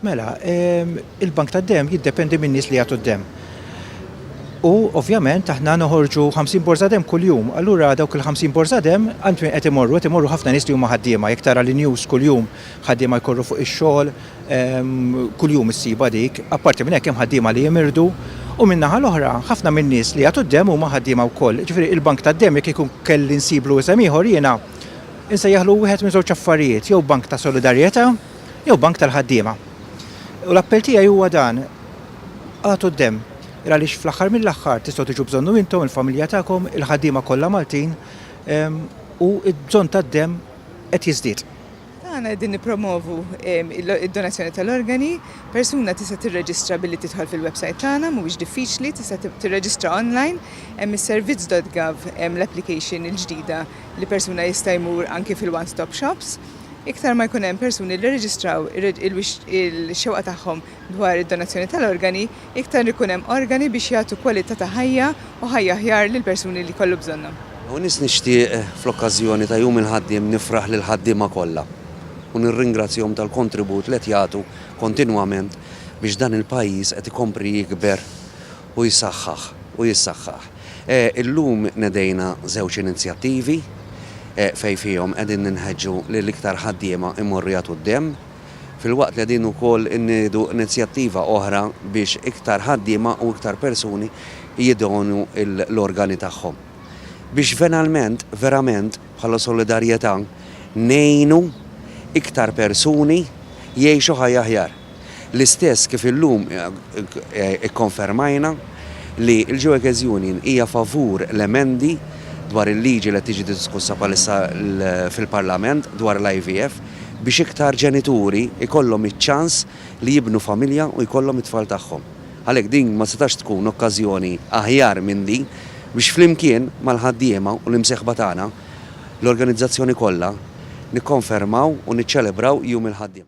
Mela, ehm, il-bank ta' dem jiddependi minn nies li jagħtu d-dem. U ovvjament aħna noħorġu 50 borza dem kuljum, allura dawk il-50 borza dem għand min qed imorru, qed imorru ħafna nies li huma ħaddiema, jekk tara li news kuljum ħaddiema jkorru fuq ix-xogħol, ehm, kuljum issiba dik, apparti minn hekk hemm ħaddiema li jimirdu, u min-naħa l-oħra ħafna min-nies li jagħtu d-dem huma ħaddiema wkoll. Ġifieri il-bank tad-dem jekk ikun kelli nsiblu isem ieħor jiena Insejjaħlu wieħed minn żewġ affarijiet, jew bank ta' solidarjetà jew bank tal-ħaddiema. U l-appell tiegħi huwa dan, agħtu d-demm, għaliex fl-aħħar mill-aħħar tistgħu tiġu bżonnu intom, il-familja tagħkom, il-ħaddiema kollha Maltin, u d-bżonn tad-demm qed jiżdied. Meta aħna qegħdin nippromovu d-donazzjoni tal-organi, persuna tista' tirreġistra billi tidħol fil-websajt tagħna, mhuwiex diffiċli, tista' tirreġistra online, hemm is-servizz.gov, l-application il-ġdida, li persuna jista' jmur anki fil-one stop shops, iktar ma jkun hemm persuni li rreġistraw il-xewqa tagħhom dwar id-donazzjoni tal-organi, iktar ikun hemm organi biex jagħtu kwalità ta' ħajja u ħajja aħjar lill-persuni li jkollu bżonnhom. Hawn nies nixtieq fl-okkażjoni ta' Jum il-Ħaddiem nifraħ lill-ħaddiema kollha u nirringrazzjahom tal-kontribut li qed jagħtu kontinwament biex dan il-pajjiż qed ikompri jikber u jsaħħaħ u jissaħħaħ. Illum nedejna żewġ inizjattivi fejn fihom qegħdin ninħeġġu li l-iktar ħaddiema jmorru jagħtu d-demm, filwaqt li qegħdin ukoll innidu inizjattiva oħra biex iktar ħaddiema u iktar persuni jidonu l-organi tagħhom. Biex venalment, verament, Bħala solidarjetà ngħinu iktar persuni jgħixu ħajja aħjar. L-istess kif illum ikkonfermajna li l-Gjooekes Union hija favur l-emendi dwar il-liġi li qed tiġi diskussa bħalissa fil-Parlament dwar l-IVF biex iktar ġenituri jkollhom iċ-ċans li jibnu familja u jkollhom it-tfal tagħhom. Għalhekk din ma setax tkun okkażjoni aħjar minn din biex flimkien mal-ħaddiema u l-imsieħba tagħna, l-organizzazzjoni kollha, nikkonfermaw u niċċelebraw Jum il-Ħaddiem.